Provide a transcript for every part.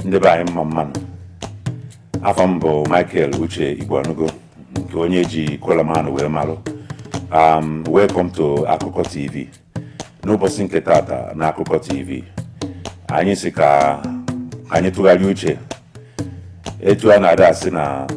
ndị be anyị mma mmanụ afa m bụ Michael Uche Igboanugo nke onye ji Coleman wee malụ um, welcome to Akụkọ TV n'ụbọchị nke tata na Akụkọ TV anyị sị ka anyị tụgharịa uche etu a na-ada asị na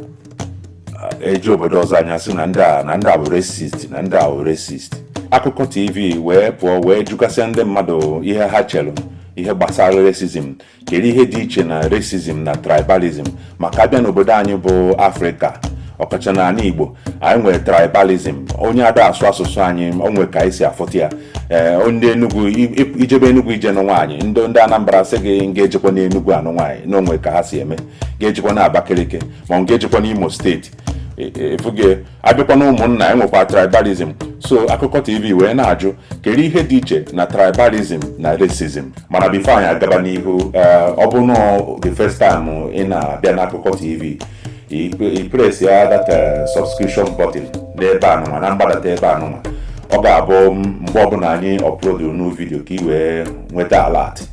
e je obodo ọzọ anyị asị na ndị a na ndị a bụ racist na ndị a bụ racist akụkọ tv wee pụọ wee jụgasịa ndị mmadụ ihe ha chere ihe gbasara racism kedu ihe dị iche na racism na tribalism maka abịa n'obodo anyị bụ afrịka ọkacha na ala igbo anyị nwere tribalism onye ada asụ asụsụ anyị onwe ka anyị si afụta ya ee eh, ndị enugwu ijebe enugwu ije nụ nwaanyị ndị ndị anambra sị gị ngị ejekwana enugwu anụ nwaanyị na onwe ka ha si eme gị ejekwana abakaliki ma ngị ejekwana imo state efuge eh, eh, abịakwa na ụmụnna enwekwa tribalism so akụkọ tv wee na-ajụ kedu ihe dị iche na tribalism na racism mana before anyị agaba n'ihu eh, ọ bụ na the first time ị na-abịa n'akụkọ tv i press ya that eh, subscription button n'ebe anụnwa na mgbadata ebe anụnwa ọ ga-abụ mgbe ọbụla anyị upload new video ka i wee nweta alert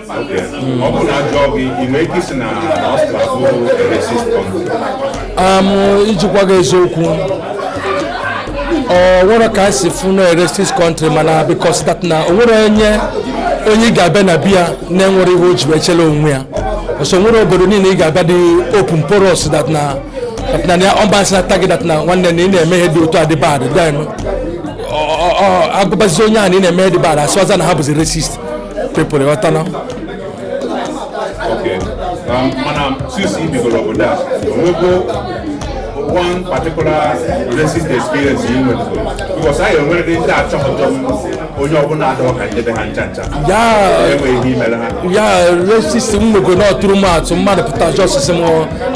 iji gwa gị eziokwu o nwere ka e si fụ na racist country mana because that na o nwere onye onye ị ga-abịa na be ya na-enwerọ ihe o ji echela onwe ya so o nwere obodo niile ị ga-abịa dị open porous that na na ya ọmbansị na tagi that na nwanne na ị na-eme ihe dị otu a dị bad a gwabazi onye a na ị na-eme ihe dị bad asịwazi na ha bụzi racist people ịghọta na um, mana since i bigoro obodo a onwego one particular racist experience you went through? Because I am already that onye ọbụla adọọ ka nde be ha ncha ncha yeah racist m nwego na ọtụrụ m atụ mmadụ pụta just tisi m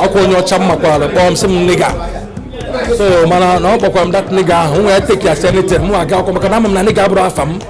akwa onye ọcha m makwara kpọọ m sị m nigga so mana na ọ kpọkwara m that nigga ahụ nwa ya take ya as anything mụ aga akwụkwọ maka na ama m na nigga abụrọ afa m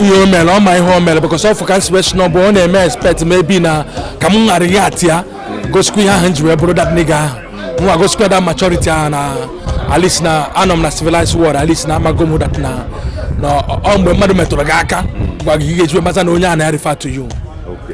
ihe o mere ọ ma ihe o mere because ọ fụ ka m si wee si na ọ bụ ọ na-eme expect maybe na ka m ga-react ya gosikwa ihe ahụ m ji wee bụrụ that nigga ahụ mwa gosikwa that maturity ahụ na at least na anọ m na civilized world at least na amago m that na ọ mgbe mmadụ metụrụ gị aka gwa gị ihe e ji wee mata na onye a na-refer to you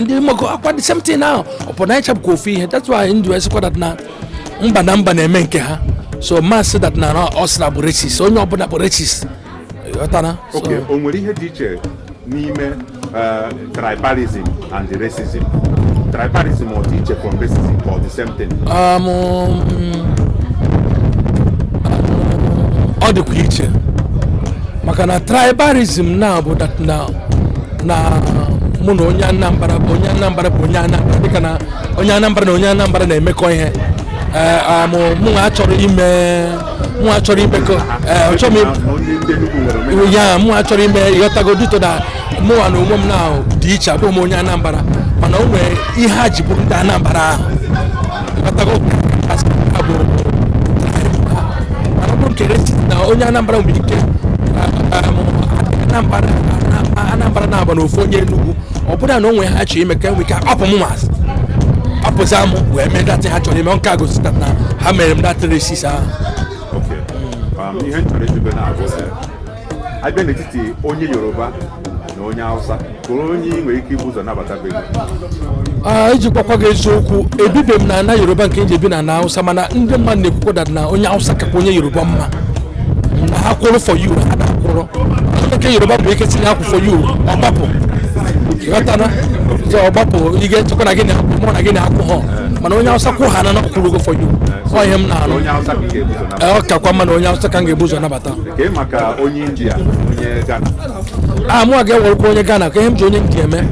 ndị mmakọ akwa the same thing now ọ bụ na anyị cha bụkwa ofu ihe that's why ndụ esikwa dat na mba na mba na-eme nke ha so ma asị dat na ọ sị na bụ racist onye ọbụla bụ racist ghọtara so Okay, o nwere ihe dị iche n'ime eh, tribalism and racism tribalism ọ dị iche from racism ka ọ the same thing um, um, ọ dịkwa iche maka na tribalism na bụ dat na na mụ na onye Anambra bụ onye Anambra bụ onye Anambra dịka na onye Anambra na onye Anambra na-emekọ ihe mụwa achọrọ ime mụ achọrọ imekọ ya mụ achọrọ ime ịghọtago dat na mụwa na onwe m na m dị iche abụghị m onye Anambra mana o nwere ihe ha ji bụrụ ndị Anambra ahụ onye Anambra nwere ike Anambra na-agba n'ofu onye Enugu ọ bụrụ na o nwe ihe ha chọrọ ime ha enwe ike akpapụ m ma asị apụzi amụ wee mee dat ihe ha chọrọ ime nke a gosi dat na ha mere m datị racist ahụ abịa n'etiti onye yoruba na onye hausa kee onye ị nwere ike ibu ụzọ nabata be gị Ah, iji gwakwa gị eziokwu ebibe m na ana yoruba nke m ji ebi na ana hausa mana ndị mmadụ na-ekwukwa dat na onye hausa kakwa onye yoruba mma na ha kwụrụ for you ha na-akwụrụ onye nke yoruba bụ ike tinye akwụ for you ọ gbapụ ghọtana so ọ gbapụ ị ga-echekwa na gị na mụ na gị na akwụ ha mana onye hausa kwụ ha na ha kwụrụgo for you ọ ihe m na-anụ onye hausa ka ị ga-ebu ụzọ nabata Ee, ọ kakwa mma na onye hausa ka m ga-ebu ụzọ nabata Kee maka onye India onye Ghana. ah mụ aga ewerekwa onye Ghana kee ihe m ji onye India eme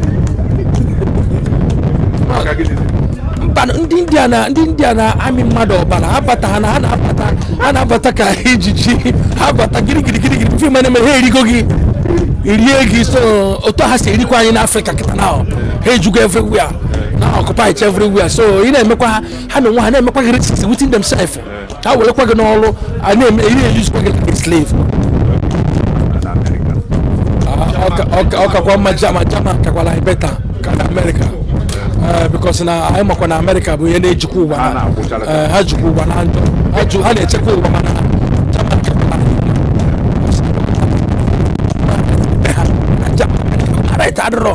Maka gịnị? mba ndị India na ndị India na-amị mmadụ ọbara ha bata ha na ha na-abata ha na-abata ka ijiji ha bata girigiri girigiri mfe ma na-eme ha erigo gị rie gị so otu ha si erikwa anyị n'Afrịka kịta na ha ejugo everywhere na occupy everywhere so ị na-emekwa ha ha na onwe ha na-emekwa gị racist within themselves ha werekwa gị n'ọrụ ha na-eme ihe eyuzukwa gị like slave ọkakwa mma German German kakwala anyị beta karịa amerịka eh, bikos na anyị makwa na amerịka bụ ha na-ejikwa ụwa eh, ha jikwa ụwa na njọ ha na-achịkwa ụwa mana German kakwala adịrọ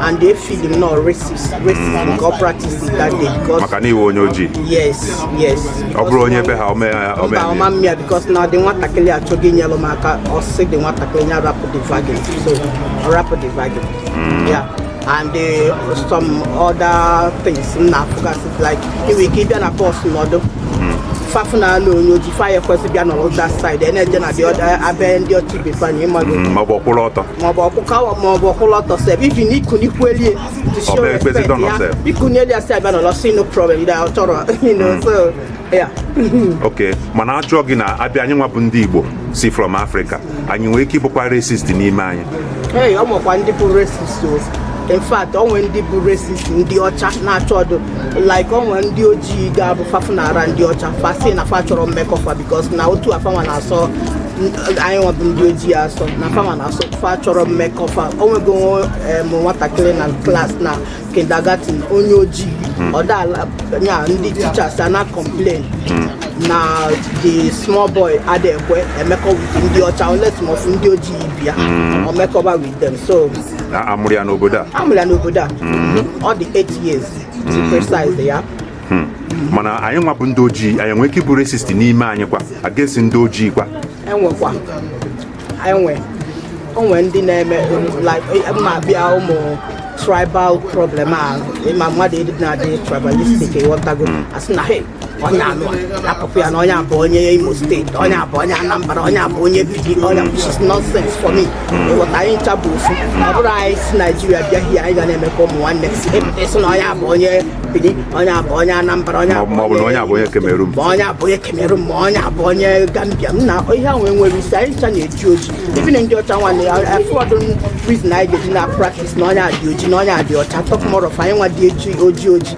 and they feel him not racist racist mm. nke ọ practice that day because maka na iwe onye ojii yes yes ọ bụrụ onye be ha ome ya ome ya ọma mmịa because na the nwatakịrị achọghị inyere m aka ọ sị the nwatakịrị ya rapụ the vagin so ọ rapụ the vagin mm. yeah and uh, some other things m na-afụgasị like ị nwe ike ịbịa na bọs nọdụ mm. fa fụ na ala onye oji fa ya ekwesị bịa nọrọ that side ena-eje na abịa ndị ọcha befe anyị ịmaghị ma ọ bụ ọkwụrụ ọtọ maọbụ ọkpụkawa maọbụ ọ kwụlụ ọtọ sef ibi na ikunikwu elie to show Ọbụ ekpezi respect dọnọ ya sef. ikuni elie a sị a bịa n'ụlọ si no problem da ọ chọrọ you know so yeah okay mana ajụọ gị na a bịa anyị nwa bụ ndị igbo si from Africa anyị nwere ike ịbụkwa racist n'ime anyị ee ọ nwekwa ndị bụ racist o in fact ọ nwee ndị bụ racist ndị ọcha na-achọ ọdụ like o nwe ndị ojii ga-abụ fa fụnara ndị ọcha fa sị na fa achọrọ mmekọ fa because na otu a fanwa na-asọ anyị nwa bụ ndị ojii asọ na fanwa na-asọ fa achọrọ mmekọ fa o nwego nwatakịrị na class na kindergarten onye ojii hmm. ọdala ya ndị teachers ana complain hmm. na the small boy adị ekwe emekọ with ndị ọcha unless ma ọ fụ ndị ojii bịa hmm. o mekọba with them so na a mụrụ ya n'obodo a a mụrụ ya n'obodo a hmm. ọ dị 8 years to hmm. precise yeah hmm. mana anyị nwa bụ ndị ojii anyị nwee ike ịbụ racist n'ime anyị kwa against ndị ojii kwa e nwekwa e nwe o nwe ndị na-eme ma a bịa ụmụ tribal problem a ị ma mmadụ ịdị na-adị tribalistic ị ghọtago a sị na hey onye anụ akụkụ ya na onye a bụ onye imo steeti onye a bụ onye anambra onye a bụ onye bidi onye which is nonsense for me ị ghọta anyị ncha bụ ofu ọ bụrụ anyị si naijiria bịa here anyị ga na-eme ka ụmụ nwanne ịsị na onye a bụ onye bidi onye a bụ onye anambra onye a bụ onye a bụ onye Cameroon ma onye a bụ onye Cameroon ma onye a bụ onye gambia m na ihe ahụ enwerọ isi anyị ncha na-eji oji even na ndị ọcha nwanne ya afọdụ reason anyị ga-eji na-practise na onye a dị oji na onye a dị ọcha talk more of anyị nwa dị eji oji oji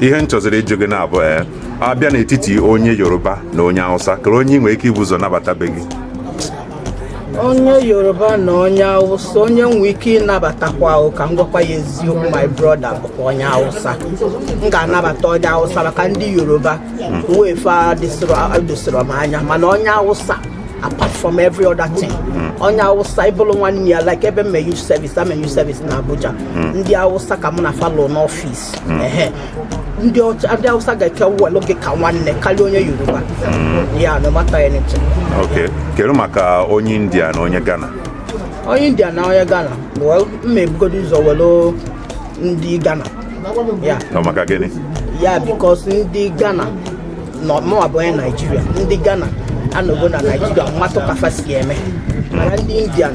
ihe m chọziri ịjụ gị na-abụ ee a bịa n'etiti onye yoruba na onye hausa kere onye ị nwere ike ibu ụzọ nabata be gị onye yoruba na onye awụsa onye nwe ike ịnabatakwa ahụ ka m gwakwa gị eziokwu my brother bụkwa onye awụsa m ga-anabata onye awụsa maka ndị yoruba way fa adịsịrọ m anya mana onye awụsa apart from every other thing onye awụsa ị bụrụ nwanne ya like ebe m me youth service a me youth service na abuja ndị awụsa ka m na fa nọ n'ọfịs hmm. ndị Hausa ga-aka welu gị ka nwanne karịa onye Yoruba hmm. yeah no matter anything okay kedu maka onye India na onye Ghana onye India na onye Ghana well m ma-ebugodo ụzọ welu ndị Ghana yeah maka gịnị yeah because ndị Ghana na mụwa bụ onye Naijiria ndị Ghana anọgo na Naijiria m matụ ka fa si eme mana ndị Indian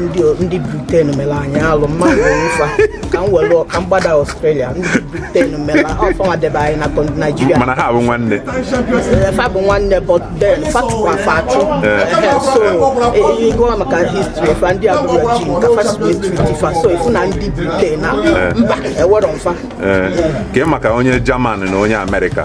ndị ndị Britain mere anyị alụ mmadụ ụfa ka m were ka m gbada Australia ndị Britain mere ọfụma debe anyị na naijiria mana ha bụ nwanne eh, fa bụ nwanne but then fa chụkwa fa achụ eh. Eh, so ị gụwa maka history fa ndị Aborigine ka fa si e-treat fa so ị fụ na ndị Britain na mba ewerọ m fa kee maka onye German na onye America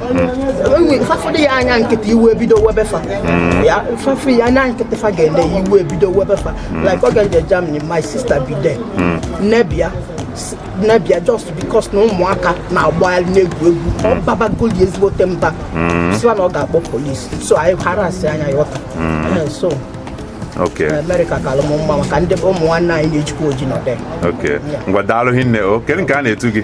fa fụdụ ya anya nkịta iwe ebido webe fa hmm. ya fa fụ ya anya nkịta fa ga-ele iwe ebido webe fa hmm. like oge m je Germany my sister bi there hmm. neighbour neighbour just because na ụmụaka na-agbagharị na-egwu egwu ọ babagoli ezigbote mba sị wa na ọ ga-akpọ police so anyị hara asị anya ya ọta eh, so Amerịka kalụ m mma maka ndị bụ ụmụ nwanne anyị na-ejikwa oji nọ there ngwa daalụ hinne o kedu nke a na-etu gị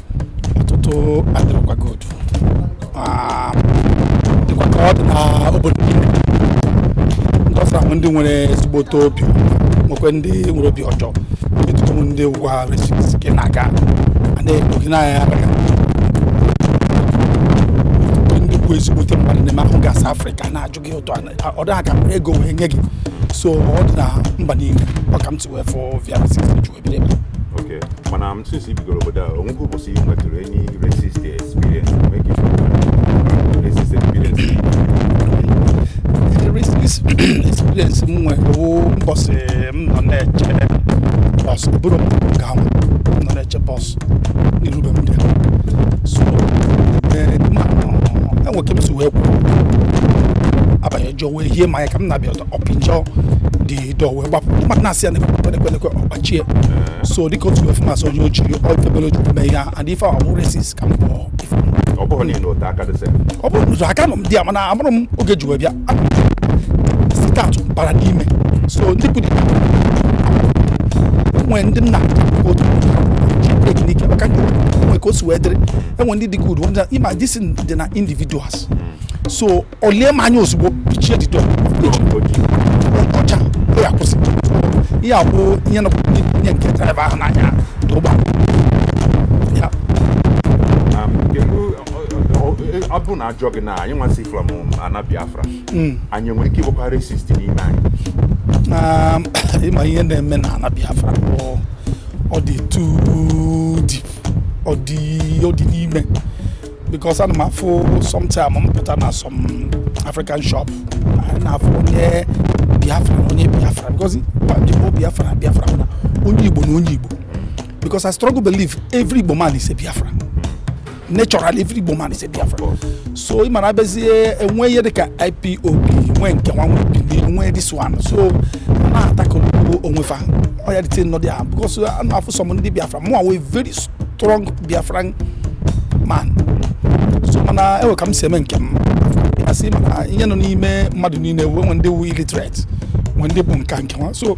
ọtụtụ adịrịkwa gị otu Ah, dịkwa ka ọ dị na obodo niile. ndị ọcha nwe ndị nwere ezigbote obi nwekwe ndị nwere obi ọjọọ ịtụtụ ndị wụ racist gị na-aga a na-ekpo gị n'anya ya abịa ndị bụ ezigbote mmadụ na-eme ahụ gasị afrịka na-ajụ gị ụtọ ọ dị ha ka ego wee nye gị so ọ dị na mba niile ọ ka m si wee fụọ via racist ebiri ebe mana m since i bigoro obodo a o nwego ụbọchị ị nwetụrụ any racist experience racist experience racist experience m nwere bụ mbọsị m nọ na-eche bọs buru m gaa ọrụ m nọ na-eche bọs iru be m so ee ma enwe ka m si wee kwụrụ abanye jụọ wee hie m anya ka m na-abịa ọzọ ọ pịchie the door wee gbapụ mmadụ na-asị ya na-ekwenekwenekwe ọ gbachie so dịka otu wee fụ m asị onye oji ọ ife mele o ji mee ihe a and ife a bụ racist ka m kpọọ ife ọ bụrụ na ị na ote aka this thing ọ bụrụ na ote aka nọ m di ya mana ọ fụrụ m oge m ji wee bịa sitatụ bara n'ime so ndị bụ dibịa nwere ndị nna otu teknik maka ndị nwere ka o si wee dịrị enwe ndị dị good ịma this thing dị na individuals so o lie m anya ozugbo pịchie the door ọcha o ya kwụsị ihe akwụ ihe nọ nye nke driver ahụ na-anya ụgbọ ọ bụ na a jụọ gị na anyị nwa si from um, ana biafra hmm. anyị nwere ike ịbụkwa racist n'ime anyị um, ị ma ihe na-eme na ana biafra bụ ọ dị too deep ọ dị ọ dị n'ime because ana m afụ sometime m pụta na some african shop anyị na-afụ onye biafra na onye biafra because igbo biafra na biafra na onye igbo na onye igbo because i strongly believe every igbo man is a biafra naturally every Igbo man is a Biafra so ị ma na a bịazie nwee ihe dịka IPOB nwee nke nwa nwee bili nwee this one so na-attack onwe fa ọ ya dịte nnọdụ ya because a na-afụ some ndị Biafra mụwa wụ very strong Biafran man so mana enwe ka m si eme nke m asị mana ihe nọ n'ime mmadụ niile wee nwe ndị wụ illiterate nwe ndị bụ nka nke nwa so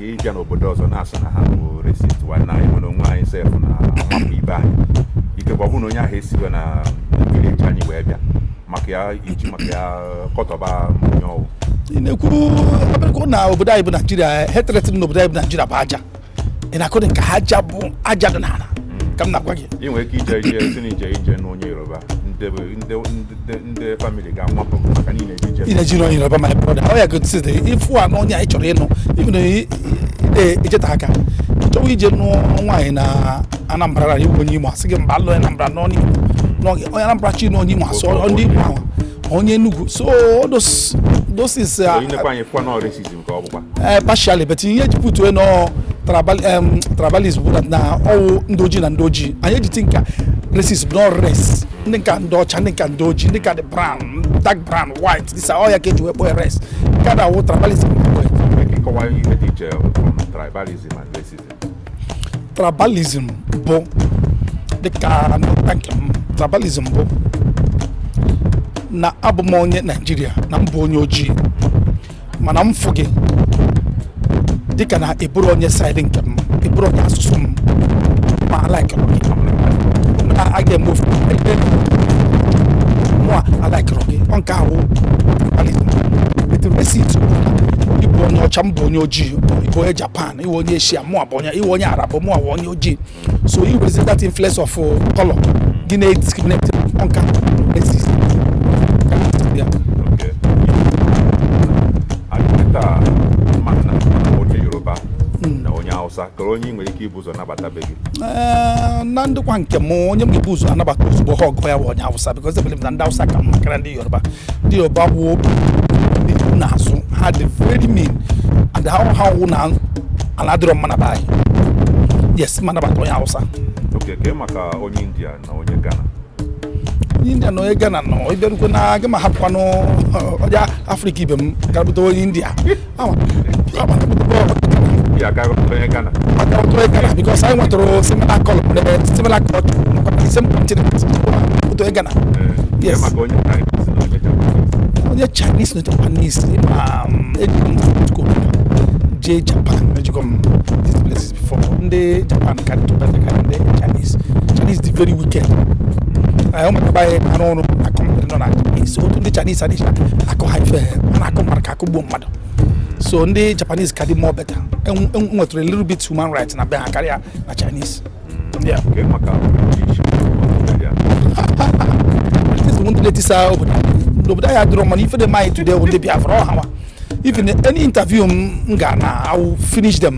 ị bịa n'obodo ọzọ na-asị na ha bụ racist mana anyị nwere onwe anyị sef na-amapụ ibe anyị ikekwa ọ bụrụ na onye ahụ esiwe na village anyị wee bịa maka ya i ji maka ya kọtọba onye ọ wụ ị na-ekwu abịakwa na obodo anyị bụ naijiria hatred na obodo anyị bụ naijiria bụ aja ị na-akọdị nke aja bụ aja dị n'ala ka m na-agwa gị ị nwere ike ije ije si na ije ije na onye Yoruba ndị family ga-amapụ maka na i je ije na onye Yoruba my brother ọ ya gotizide ịfụ a n'onye anyị chọrọ ịnụ even i jeta aka chọwa ije nụọ nwaanyị na Anambra na ị wụ onye Imo a sị gị mba alụ Anambra n'ọnụ Imo onye Anambra chi na onye Imo asụ ndị Imo ahụ onye Enugu so those those is uh, ee eh, partially but ihe e ji put ya na ọ tribalism bụ na ọ wụ ndị ojii na ndị ojii anyị ejiti nka racism bụ na ọ race ndị nka ndị ọcha ndị nka ndị ojii ndị nka dị brown dark brown white this ọ ya ka e ji wee kpọọ race nke na-awụ tribalism tribalism bụ dịka nghọta nke m tribalism bụ na abụ m onye naijiria na m bụ onye ojii mana m fụ gị dịka na ị bụrọ onye side nke m ị bụrọ onye asụsụ m mụ alikerọ gị na a ga-eme ofu ebe mụ a alikerọ gị ọ nke ahụ wụ racist ị bụ onye ọcha m bụ onye ojii ị bụ onye Japan ị bụ onye Asia mụ a bụ onye ị bụ onye Arab mụ a bụ onye ojii so you will see that influence of uh, color gị na-discriminate ọ nke racist Yeah. Okay. Kịta mana onye Yoruba na onye Hausa kedu onye ị nwere ike ibu ụzọ nabata be gị. Eh, na ndụkwa nke m onye m ga-ebu ụzọ anabata ozugbo ha ọgụ ya bụ onye Awụsa because e believe m na ndị Awụsa ka mma karịa ndị Yoruba. Ndị Yoruba wụ ihu na azụ ha dị very mean and ha hụ na ala adịrọ mma na be anyị. Yes, m anabata onye Hausa. Okay, kee maka onye India na onye Ghana. Onye India na onye Ghana no, ị bịarukwe na gị m ahapụkwanụ onye Africa ibe m gara bute onye India. because anyị nwetụrụ similar color eh, similar culture same continent otu ị Ghana yes onye Chinese na Japanese ma eji m tuko jee Japan ejego m these places before ndị Japan ka dịtụ better karịa ndị Chinese Chinese dị very wicked anyị ụmụaka anyị arụ ọrụ akọ nọ na Chinese otu ndị Chinese adịcha akọ ha ife ha na-akọ mara ka akụgbuo mmadụ so ndị Japanese ka dị more better enwetụrụ a little bit human right na be ha karịa na Chinese ndị na-etisa obodo n'obodo anyị adịrọ mana ife dị mma anyị today bụ ndị Biafra ọhawa even any interview m ga na I will finish them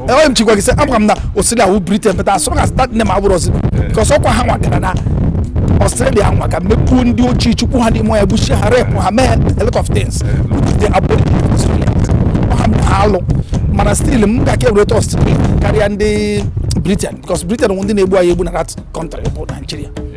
enweghị m chikwa gị sị ama m na Australia wụ Britain but as long as that name abụrọzi because ọ bụkwa ha nwa gara na Australia nwa ka mepuo ndị ojii chụkpuo ha n'ime bush ha rape ha mee a lot of things the Aborigine Australia ha mee ha alụ mana still m ga-aka e-rate Australia karịa ndị Britain because Britain wụ ndị na-egbu anyị egbu na that country bụ Nigeria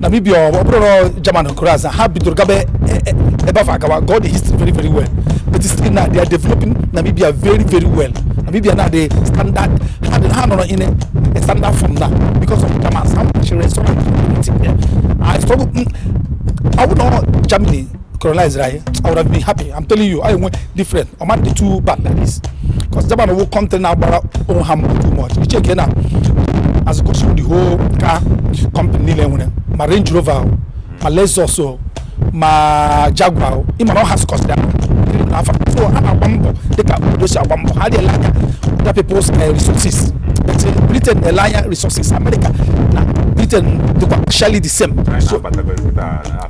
Namibia ọ bụrụ na German colonize ha bidoro gaba e, e, ebe afọ agawa got the history very very well but still now they are developing Namibia very very well Namibia now the standard ha nọrọ in a standard form now because of Germans ha nwere sọrọ I struggle mm, ọ bụrụ na Germany colonizera anyị i would have been happy i'm telling you i enwe different ọ ma dị too bad like this because japan wụ country na-agbara onwe ha mbọ too much ị checkie now as it goes the whole car company niile nwere ma range rover o ma lexus o ma jaguar o ị ma na ọ ha scos ya n'afọ so ha na-agba mbọ dịka obodo si agba mbọ ha adị ele anya other people's eh, resources but eh, britain na-ele anya resources america na britain dịkwa actually the same so Abatago ebe a,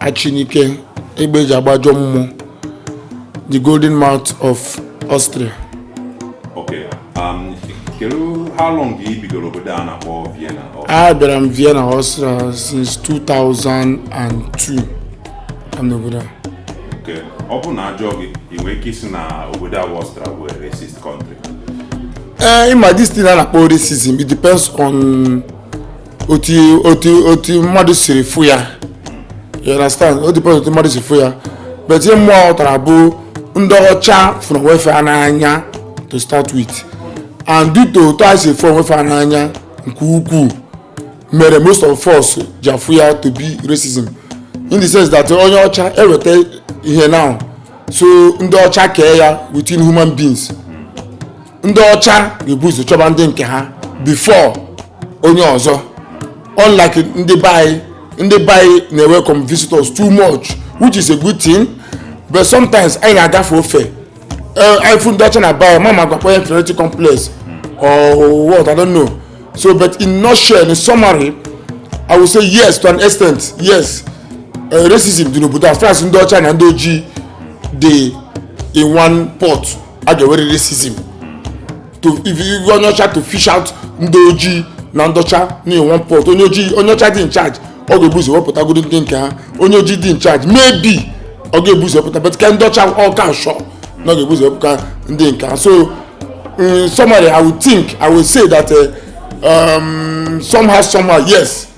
Achinike egbe eji agba ajọ mmụọ the golden mouth of Austria Okay. Um, kedu how long ka ị bigoro obodo a na-akpọ Vienna? abịara m Vienna Austria since 2002 am n'obodo a Okay. ọ bụrụ na a jụọ gị ị nwere ike ịsị na obodo a bụ Austria bụ a racist country ee ị ma this thing a na-akpọ racism it depends on otu otu otu mmadụ siri fụ ya you understand ọ depend otu mmadụ si fụ ya but ihe mụ ghọtara bụ ndị ọcha fụrụ onwe fa n'anya to start with and due to otu fa si fụ onwe fa n'anya nke ukwuu mere most of us ji afụ ya to be racism in the sense that onye ọcha eweta ihe now so ndị ọcha kee ya within human beings ndị ọcha ga-ebu ụzọ chọba ndị nke ha before onye ọzọ unlike ndị be anyị ndị be anyị na-welcome visitors too much which is a good thing but sometimes anyị na-agafe ofe eh, anyị fụ ndị ọcha na be anyị m amaghị ọ wụkwa inferiority complex or what I don't know so but in nutshell in summary I will say yes to an extent yes uh, racism dị n'obodo as far as ndị ọcha na ndị ojii dị in one pot a ga-ewere racism to iwe onye ọcha to fish out ndị ojii na ndị ọcha na one pot onye ojii onye ọcha dị in charge ọ ga-ebu ụzọ wepụtagodu ndị nke ha onye ojii dị in charge maybe ọ ga-ebu ụzọ wepụta but ke ndị ọcha ọ ka sure na ọ ga-ebu ụzọ wepụta ndị nke ha so in summary i would think i would say that uh, um, somehow somehow yes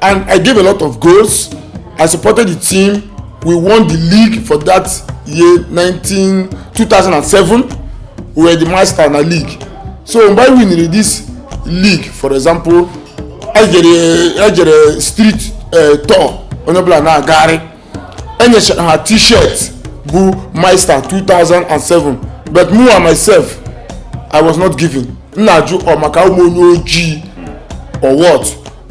and I gave a lot of goals. I supported the team. We won the league for that year 19, 2007. We were the master in the league. So mgbe anyị winere this league for example e jere e jere street eh, tour onye ọbụla na-agagharị e nyechara ha t-shirt bụ meister 2007 but mụa myself i was not given m na-ajụ ọ maka a wụ m onye ojii or what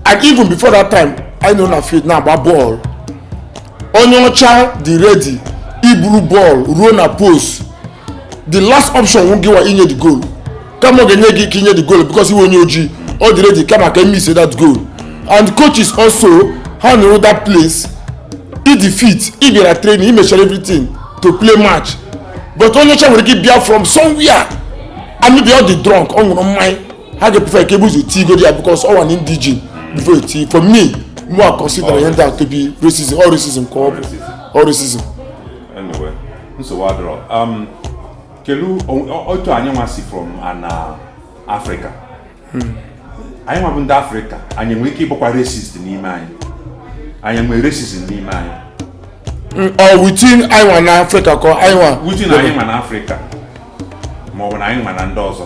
and even before that time i nọ na field na-agba bọọlụ onye ọcha dị ready iburu bọọlụ ruo na post the last option wụ gịwa inye the goal kama ọ ga-enye gị ike inye the goal because ị wụ onye ojii ọ dị ready kama ka e miss that goal and coaches also ha nọrọ that place ị dị fit i bịara training i mechara everything to play match but onye ọcha nwere ike bịa from somewhere and maybe ọ dị drunk ọ ṅụrụ mmanya ha ga-eprefer ka e buzọ tii godi ya because ọ wụ an indigene before e tii for me mụ a consider ihe ndị a to be racism ọ racism ka ọ bụ ọ racism. Anyway. nsogbu adịrọ um, kelu otu anyị nwa si from ana uh, afrịka hmm. anyị nwa bụ ndị afrịka anyị nwere ike ịbụkwa racist n'ime anyị anyị nwere racist n'ime anyị hmm, ọ within anyị nwa na afrịka ka anyị nwa within anyị nwa na afrịka ma ọ bụ na anyị nwa na ndị ọzọ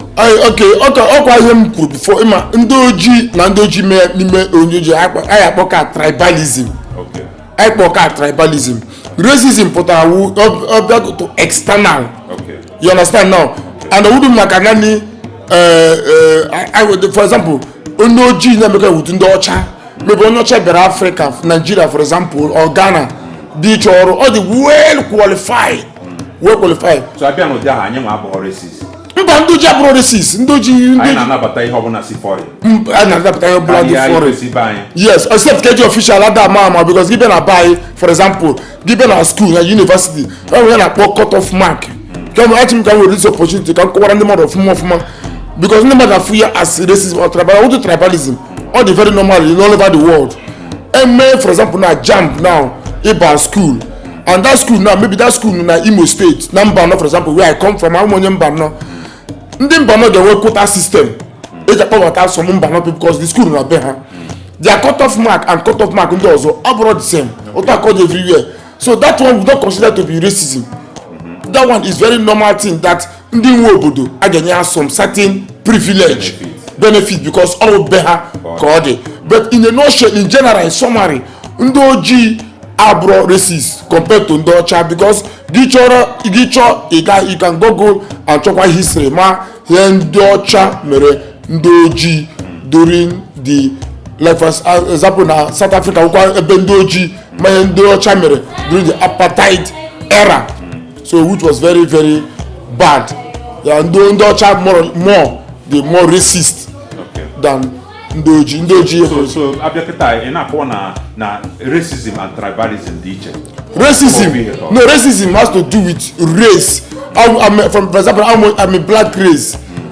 ok ọkwa ihe m kwuru before ị ma ndị ojii na ndị ojii mee n'ime onye ojii anyị akpọ ka tribalism anyị kpọọ ka tribalism racism pụtara wụ ọ bịa to external you understand now and ọ wụdụ maka naanị eh, eh, for example onye ojii na-emekọ with ndị ọcha maybe onye ọcha bịara afrịka naijiria for example or ghana bịa ịchọ ọrụ ọ dị well qualified well qualified so a bịa n'ụdị ahụ anyị nwa abụrọ racist mba ndị ojii abụrọ racist ndị ojii ndị ojii na-anabata ihe ọbụla si foreign a na-anabata ihe ọbụla dị foreign yes except keji official ada ama ama because gị bịa na be anyị for example gị bịa na school na university e nwere ihe a na-akpọ cut off mark kemgbe achọ m ka m were this opportunity ka m kọwara ndị mmadụ ọfụma ọfụma because ndị mmadụ afụ ya as racism or tribal ụdị tribalism ọ dị very normal in all over the world eme for example na jamb now ịba school and that school now maybe that school na imo state na mbanọ for example where i come from awụ m onye mbanọ ndị mbanọ ga-enwe quota system eji akpọbata some mbanọ because the school na be ha their cut off mark and cut off mark ndị ọzọ abụrọ the same otu a ka ọ dị everywhere so that one we don't consider to be racism that one is very normal thing that ndị nwe obodo a ga-enye ha some certain privilege benefit because ọ bụ be ha ka ọ dị but in a nutshell in general in summary ndị ojii abụrọ racist compared to ndị ọcha because gị chọrọ gị chọọ ịga you can google and chọkwa history ma ihe ndị ọcha mere ndị ojii during the like for example na south africa wụkwa ebe ndị ojii ma ihe ndị ọcha mere during the apartheid era so which was very very bad yeah ndị ndị ọcha more more the more racist Okay. than ndị ojii ndị ojii so so a bịa kịta ị na-akọwa na na racism and tribalism dị iche racism Obi ihe tọrọ. no racism has to do with race I'm, I'm, from for example I'm a, I'm a black race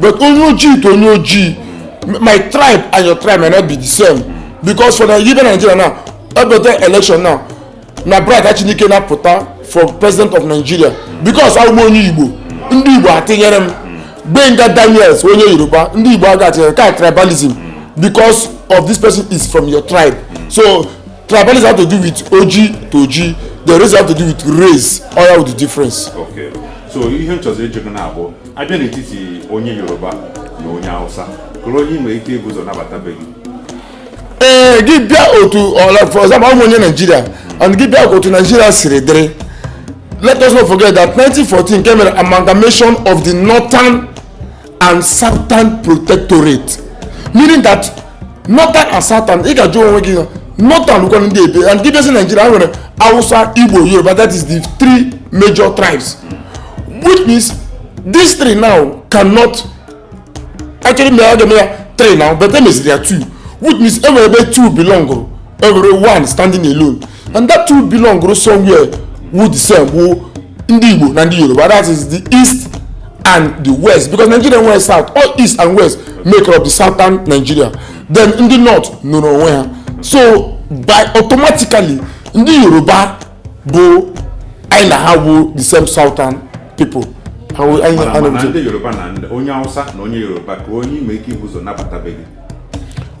but onye ojii to onye ojii my tribe and your tribe may not be the same because for the even nigeria now every election now na bright achinike now pụta for president of nigeria because awụ m onye igbo ndị igbo atinyere m gbenga daniels onye yoruba ndị igbo aga atinyere ka tribalism because of this person is from your tribe so tribalism have to do with ojii to ojii the race have to do with race ọ ya wụ the difference. Okay. so ihe m chọzi ịjụ gị now bụ a bịa n'etiti onye yoruba na onye hausa kedụ onye ị nwere ike ibu ụzọ nabata be gị ee gị bịa otu for example awụ m onye naijiria and gị bịa otu naijiria siri dịrị let us not forget that 1914 ka e mere amalgamation of the northern and southern protectorate meaning that northern and southern ị ga-ajụ onwe gị northern kwanụ ndị ebee and gị bịazi naijiria nwere hausa igbo yoruba that is the three major tribes which means these three now cannot actually mee aga ya three now but e meziri ya two which means enwere ebe two belong enwere one standing alone and that two belong to somewhere wụ the same wụ ndị Igbo na ndị Yoruba that is the east and the west because Nigeria nwere south ọ east and west make up the southern Nigeria then ndị north nọrọ onwe ha so by automatically ndị Yoruba bụ anyị na ha wụ the same southern people ndị Yoruba na onye Hausa na onye Yoruba kee onye ị nwere ike ibu ụzọ nabata be gị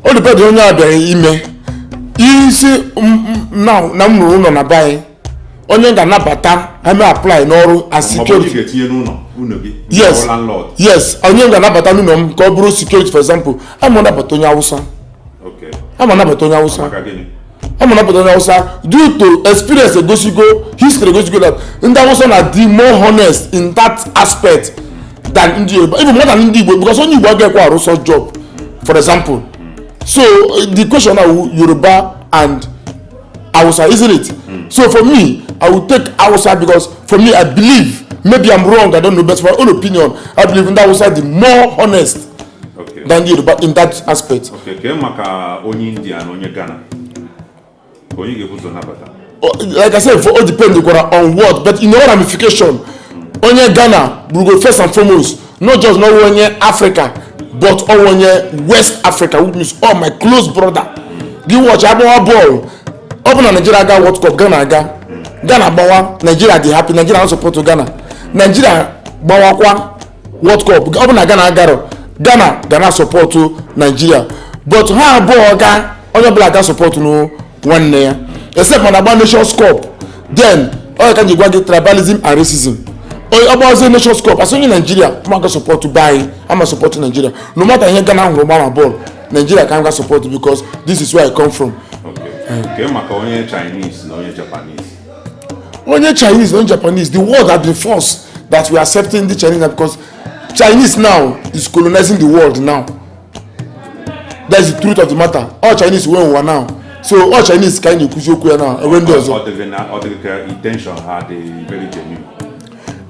ọ depend ihe onye a bịara ime ị sị na m rụrụ ụnọ na be anyị onye m ga-anabata eme apply n'ọrụ as security yes yes onye m ga-anabata n'ụnọ m ka ọ bụrụ security for example ama nabata onye awụsa ama nabata onye awụsa ọ ma napụta onye awụsa due to experience egosigo history egosigo that ndị awụsa na di more honest in that aspect than ndị yoruba even more than ndị igbo because onye igbo agaghịkwa arụ such job for example so the question na yoruba and awụsa isn't it mm. so for me i will take awụsa because for me i believe maybe i'm wrong i don't know but for my own opinion i believe ndị awụsa the more honest okay. than the Yoruba in that aspect. Okay, kee maka onye India na onye Ghana onye ga-ebu ụzọ nabata oh, like I said for ọ depend kwara on what but in all ramification onye Ghana bụrụgo first and foremost not just na ọwụ onye Africa but ọwụ onye West Africa which means ọ my close brother gị watch a gbawa bọọlụ ọ bụ na Nigeria aga World Cup Ghana aga Ghana gbawa Nigeria dị happy Nigeria na support Ghana Nigeria gbawakwa World Cup ọ bụ na Ghana agarọ Ghana ga na sọpọtụ Naijiria but ha abụọ ga onye ọbụla ga sọpọtụ nụ nwanne ya except ma a na-agba Nations Cup then ọ ka m ji gwa gị tribalism and racism ọ gbazie Nations Cup as onye Naijiria m ga sọpọtụ be anyị ama sọpọtụ Naijiria no matter ihe Ghana hụrụ gbaa na bọọlụ Naijiria ka m ga sọpọtụ because this is where I come from. Okay. Kee maka onye Chinese na onye Japanese. onye chinese onye japanese the world has been forced that we are accepting the chinese because chinese now is colonizing the world now that's the truth of the matter ọ chinese nwe ụwa now so ọ chinese ka anyị na-ekwuzi okwu ya now enwe ndị ọzọ ọ dịghị na ọ dịghị ka intention ha dị very genuine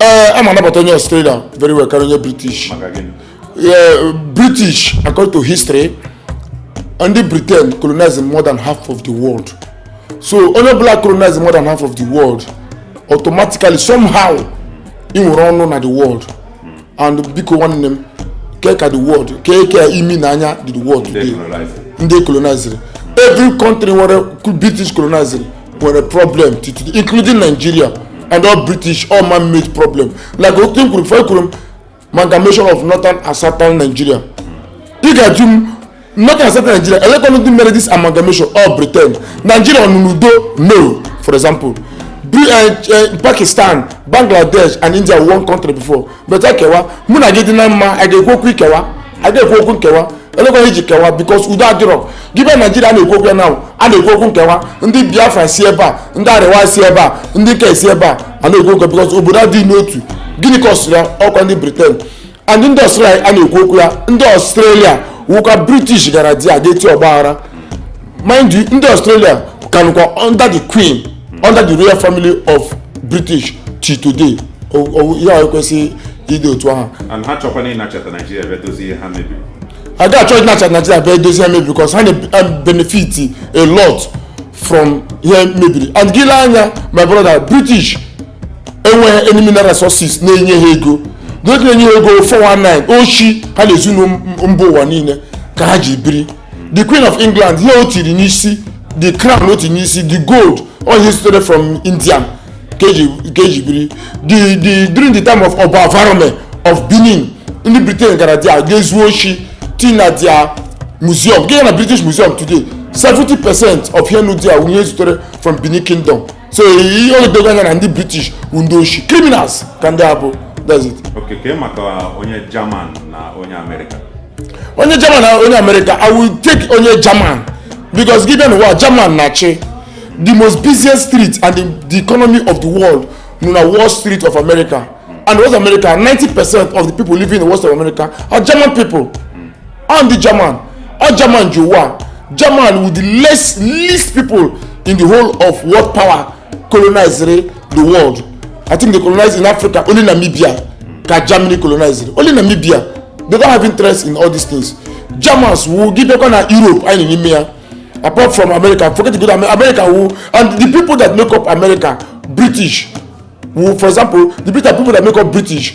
ee eh, am anabata onye Australia very well karịa onye British eh, British according to history ndị Britain colonized more than half of the world so onye ọbụla colonized more than half of the world automatically somehow i nwere ọnụ na the world and biko nwanne m kee ka the world kee ka imi na anya dị the world today ndị colonized every country where british colonized nwere problem till today including nigeria and ọ british ọ man made problem like otu m kwuru before ekwuru m amalgamation of northern and southern nigeria ị ga-ajụ m northern and southern nigeria elekwanụ ndị mere this amalgamation ọ britain nigeria ọ nọ n'udo no for example Be, uh, uh, pakistan bangladesh and india were one country before but ekewa mụ na gị dị na mma a ga-ekwu okwu ikewa a ga-ekwu okwu nkewa elekwanụ ihe e ji kewa because udo adịrọ gị bịa naijiria a na-ekwu okwu ya now a na-ekwu okwu nkewa ndị biafra si ebe a ndị arewa si ebe a ndị nke si ebe a a na-ekwu okwu because obodo adịghị n'otu gịnị causịrị ya ọkwa ndị briten and ndị ọstrelia a na-ekwu okwu ya ndị ọstrelia wụkwa british gara there gaa tie ọgbaghara mind you ndị ọstrelia ka nọkwa under the queen under the royal family of british till today O- o- ihe a ekwesịghị ịdị otu ahụ and ha chọkwana ịnachata naijiria bịa dozie ihe ha mebiri a ga-achọ ịnacha naijiria bịa edozi ihe ha mebiri because ha na-benefit a lot from ihe mebiri and gị lee anya my brother british enweghị any mineral resources na-enye ha ego n'oge na-enye ha ego 419 oshi ha na-ezu na mba ụwa niile ka ha ji biri the queen of england ihe o tiri n'isi the crown o tiri n'isi the gold all ihe sitere from india ka eji ka eji biri the the during the time of ọba varome of benin ndị britain gara there ga zuo oshi tii na their museum gị jee na british museum today 70 percent of ihe nọ there ihe sitere from benin kingdom so ihe o dogo anya na ndị british bụ ndị oshi criminals ka ndị a bụ that's it Okay, kee maka onye German na onye Amerịka. onye german na onye america i will take onye german because gị bịa n'ụwa german na-achị the most busiest street and the, the economy of the world nọ na wall street of america and west america 90 percent of the people living in west of america are german people ọ ndị german ọ german ji ụwa german with the less least people in the whole of world power colonized the world i think they colonized in africa only namibia ka germany colonized only namibia they don't have interest in all these things germans wu gị bịakwa na europe anyị n'ime ya apart from america forget good america wu and the people that make up america british wu for example the british people that make up british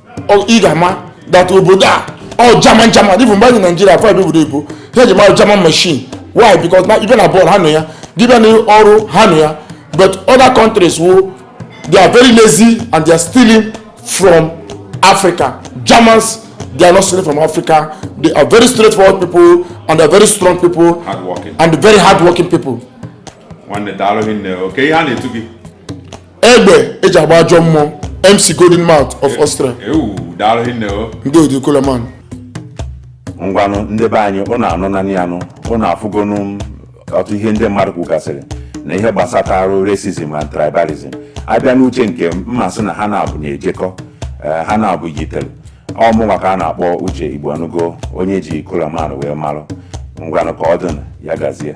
ị ga-ama that obodo a ọ german german even mgbe anyị naijiria afọ ebe obodo ebo ha eji mara german machine why because na ị bịa na bọọlụ ha nọ ya gị bịa na ọrụ ha nọ ya but other countries wo they are very lazy and they are stealing from africa germans they are not stealing from africa they are very straightforward people and they are very strong people and very hardworking people nwanne daalụ hinne okay ihe a na-etu gị egbe eji agba ajọ mmụọ mc golden mouth of austria ndị odi koloman ngwanụ ndị be anyị ụnụ anụ nanị anụ ụnụ afụgonụ ọtụ ihe ndị mmadụ kwugasịrị na ihe gbasataarụ racism and tribalism a bịa n'uche nke m m asị na ha naabọ na-ejekọ eh, ha naabọ yitere ọ mụnwa ka a na-akpọ uche igboanụgo onye e ji kolaman wee malụ ngwanụ ka ọ dịnụ ya gazie